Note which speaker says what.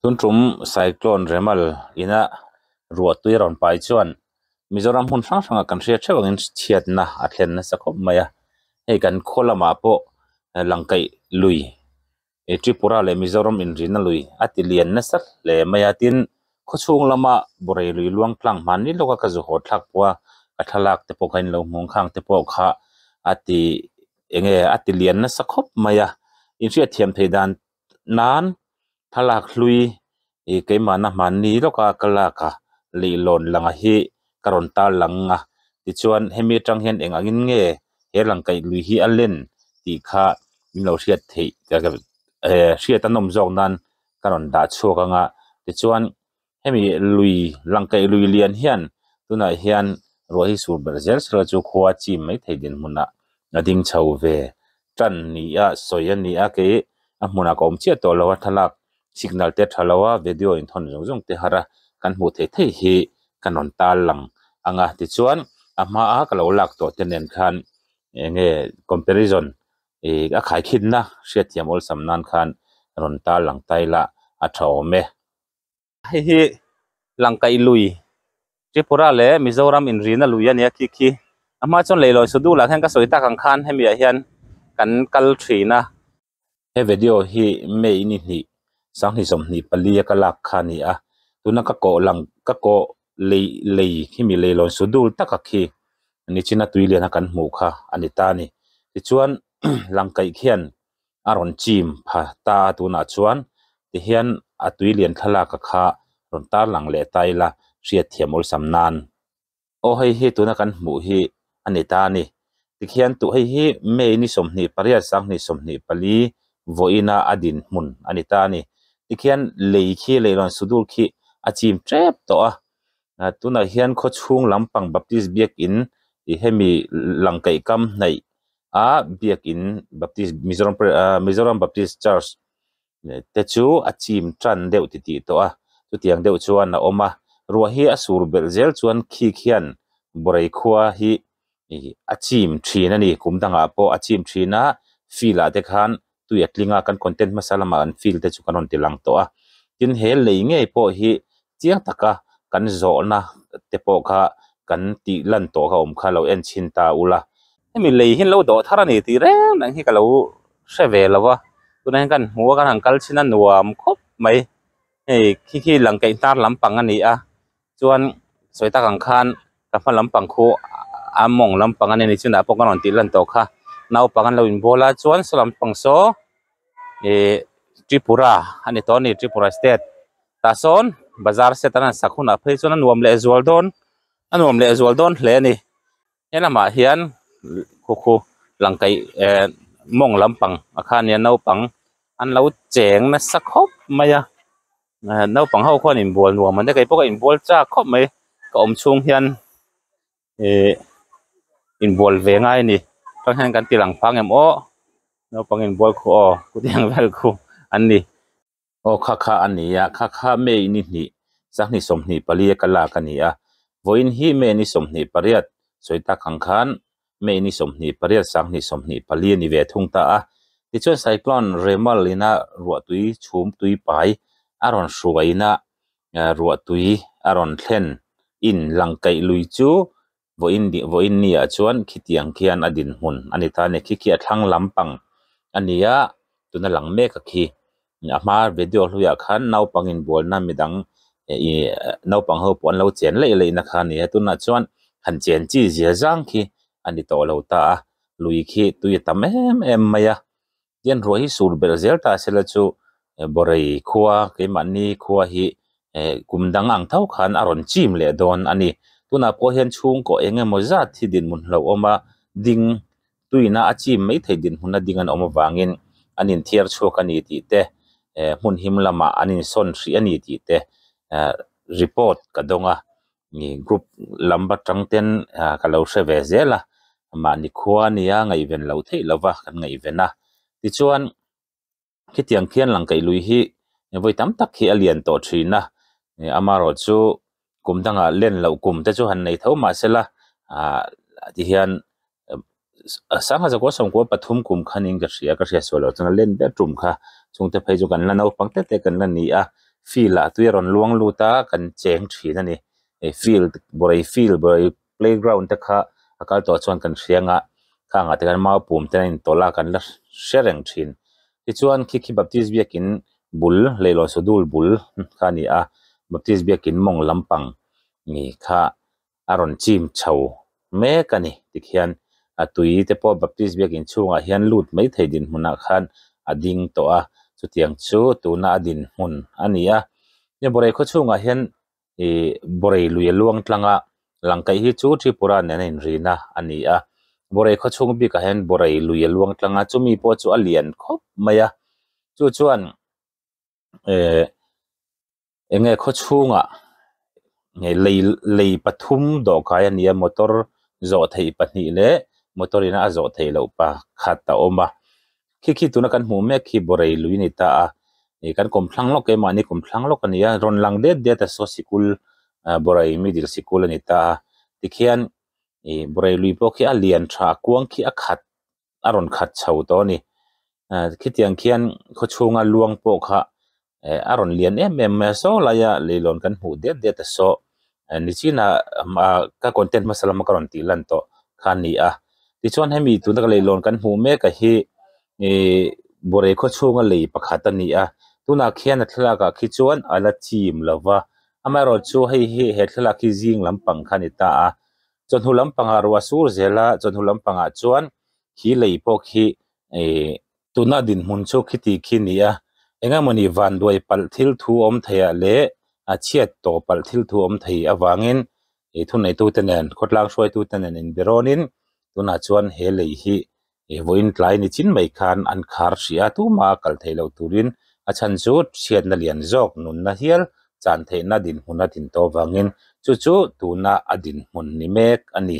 Speaker 1: Tun tum cyclone remal ina ruah tui a rawn pai chuan Mizoram hmun hrang hrangah kan hria theuh angin chhiatna a thlen nasa khawp mai a, hei kan khaw lamah pawh lang kaih lui i Tripura leh Mizoram inrinna lui a ti lian nasa hle mai a, tin khawchhung lama Borei lui luang tlang hman ni lawka ka zu haw thlak pawh a, ka thlalak te pawh kha in lo nghawng khang te pawh kha a ti eng nge a ti lian nasa khawp mai a, inhriat thiam thei dan nan thlalak hlui ih keimahna hman ni lawka ka lak a leihlawn lang a hi ka rawn tarlang ang a tichuan hemi atang hian eng angin nge he lang kaih lui hi a len tih kha min lo hriat theih eh hriat a nawm zawk nan ka rawn dah chhuak ang a tichuan-- hemi lui lang kaih lui lian hian tunah hian ruah hi sur ber zel sela chu khua a chim mai thei dinhmunah a ding chho ve tan ni a sawi a ni a kei a hmunah ka awm chiah tawh lo a thlalak signal te a tha lo a video in thawn zawng zawng te har a kan hmuh theih theih hi ka rawn tal lang ang a tichuan a hmaa ka lo lak tawh te nen khan enge comparison ih a khaikhinna hriatthiam awlsam nan khan rawn tal lang taila a tha awm e. Hei hi Langkaih lui, Tripura leh Mizoram inrihna lui a ni a, khi khi. A hma chuan leihlawn suh dul ah khian ka sawi tak ang khan hemi ah hian kan kal thin a. He vedio hi May ni hnih sanghnih sawmhnih pali a ka lak kha a ni a, tuna ka kawh lang ka kawh lei lei khi mi leihlawn suh dul tak ah khi Nichina tui lian a kan hmuh kha a ni ta a ni. Tichuan Langkaih khian a rawn chim pha ta a tunah chuan tihian a tui lian thlalaka kha rawn tarlang leh ta ila hriatthiam awlsam nan aw hei hi tuna kan hmuh hi a ni ta a ni tikhian tuh hei hi May ni sawmhnih pariat Sanghnih sawmhnih pali vawiina a din hmun a ni ta a ni tikhian lei khi leihlawn sudul khi a chim tep tawh a tunah hian khaw chhung lampang Baptist biakin ih hemi lang kaihkam hnaih a biakin baptist mizoram parish ah mizoram baptist church te chu a chim tan deuh titih tawh a chutiang deuh chuan a awm a ruah hi a sur belh zel chuan khik hian Borei khua hi a chim thin a ni kum dangah pawh a chim thin a field ah te khan-- tui a tling a kan content hmasa lam ah an feel te chu kan rawn ti lang tawh a tin he lei ngei pawh hi chiang tak a kan zawh na te pawh kha kan tih lan tawh ka awm kha lo en chhin ta ula hemi lei hi an lo dawh thar a ni tih reng reng hi ka lo hre ve lo va tuna hian kan hmu a kan han kal chhin a nuam khawp mai hei khi khi lang kaih hnar lam pang a ni a Chuan sawi tak ang khan ka hma lam pang khu a mawng lam pang a ni ni chunah pawh ka rawn tih lan tawh kha naupang an lo in bawla chuan saw lam pang saw ih tripura a ni tawh a ni tripura state tah sawn bazar set an han sak hunah phei chuan a nuam leh zual dawn a nuam leh zual dawn hle a ni he lamah hian khu khu lang kaih eh mawng lam pang ah khan hian naupang an lo cheng nasa khawp mai a. naupang ho khawn in bual nuam ang deuh kei pawh ka in bual chak khawp mai ka awm chhung hian ihh in bual ve ngai a ni khaw hriat kan tih lang pha ang em awh naupang in bual khu aw kut hi ang vel khu an ni aw kha kha a ni a kha kha me i ni hnih sangni sawmhnih pali a ka lak a ni a vawiin hi me ni sawmhnih pariat sawi tak ang khan May ni sawmhnih pariat sanghnih sawmhnih pali a ni ve thung ta a. Tichuan cyclone Remal in a ruahtui chhum tuipai a rawn hruaina ruahtui a rawn thlen in lang kaih lui chu Voinni ah chuan khitiang khian a dinhmun a ni ta a ni. Khi khi a thlang lampang a ni a tuna lang meka khi a hmaa video hluiah khan naupang inbualna midang ihh naupang ho pawh an lo chen laih laih na khan a ni a tunah chuan han chen chi zia zang khi a ni tawh lo ta a lui khi tui a tam em em mai a tian ruah hi sur belh zel ta se la chu Borei khua keimahni khua hi eh kum dang ang tho khan a rawn chim leh dawn a ni tunah pawh hian chhungkaw eng emaw zat hi dinhmun hlauhawma ding Tuihnah a chim mai thei dinhmunna ding an awm avangin an inthiar chhuak a ni tih te, hmun him lamah an insawn hrih a ni tih te report ka dawng a, group lam atang ten ka lo hre ve zel a, mahni khua nia ngaihven loh theih lova kan ngaihven a. Tichuan. Khitiang khian lang kaih lui hi vawi tam tak hi a lian tawh thin a, amarawh chu kum danga len loh kum te chu han nei tho mah se la tihian Sanghaza kua sawmkua pathum kum khan in ka hria ka hriat sual loh chhan a len ber tum kha chhungte phei chu kan la naupang tlet te kan la ni a field ah tui a rawn luang lut a kan cheng thin a ni field Borei field Borei. playground te kha a kal tawh chuan kan hrianga kha angah te kan mau pum ten a in tawlh a kan la hre reng thin tichuan khi khi baptist biakin bul leihlawn saw dul bul kha a ni a baptist biakin mawng lampang ni kha a rawn chim chho mek a ni tikhian a tui te pawh baptist biakin chhungah hian lut mai thei dinhmunah khan a ding tawh a chutiang chu tuna a dinhmun a ni a Nyoborae khawchhungah hian ihh Borei luia luang tlanga lang kaih hi chu Tripura nen a inrin a a ni a, Borei khaw chhung bikah hian Borei luia luang tlanga chumi pawh chu a lian khawp mai a, chu chuan ehh eng nge khaw chhungah lei lei pathum dawhkai a ni a, motor zawh theih pahnih leh motor ina a zawh theih loh pakhat a awm a. khi khi tuna kan hmuh mek hi Borei lui a ni ta a, ih kan kawm thlang lawk e mahni kum thlang lawk a ni a, rawn lang det det a saw sikul ah Borei middle sikul a ni ta a, tikhian ih Borei lui pawh khi a lian tha a kuang khi a khat a rawn khat chho tawh a ni, ah khitiang khian khawchhunga luang pawh kha eh a rawn lian em em mai saw laia leihlawn kan hmuh det det a saw eh ni chin a ah ka content hmasa lama ka rawn tih lan tawh kha a ni a tichuan hemi tuna ka leihlawn kan hmuh mek ah hi ihh Borei khaw chhunga lei pakhat a ni a tunah khian a thlalak ah khi chuan a la chim lo va amaherawhchu chu hei hi he thlalak hi zing lampang kha a ni ta a chawhnu lampangah ruah a sur zel a chawhnu lampangah chuan khi lei pawh khi ihh-- tuna a dinhmun chu khiti khi ni a, engemawni vanduai palh thil thu awm theiah leh a chhiat tawh palh thil thu awm thei avangin ih thuneitute nen khawtlang hruaitute nen inberawnin tunah chuan he lei hi ih vawiin tlai ni chin mai khan an khar hrih a, tuma a kal theih loh turin a chhan chu chhiatna lian zawk nunna hial chan theihna dinhmuna tin tawh avangin chu chu tuna a dinhmun ni mek a ni.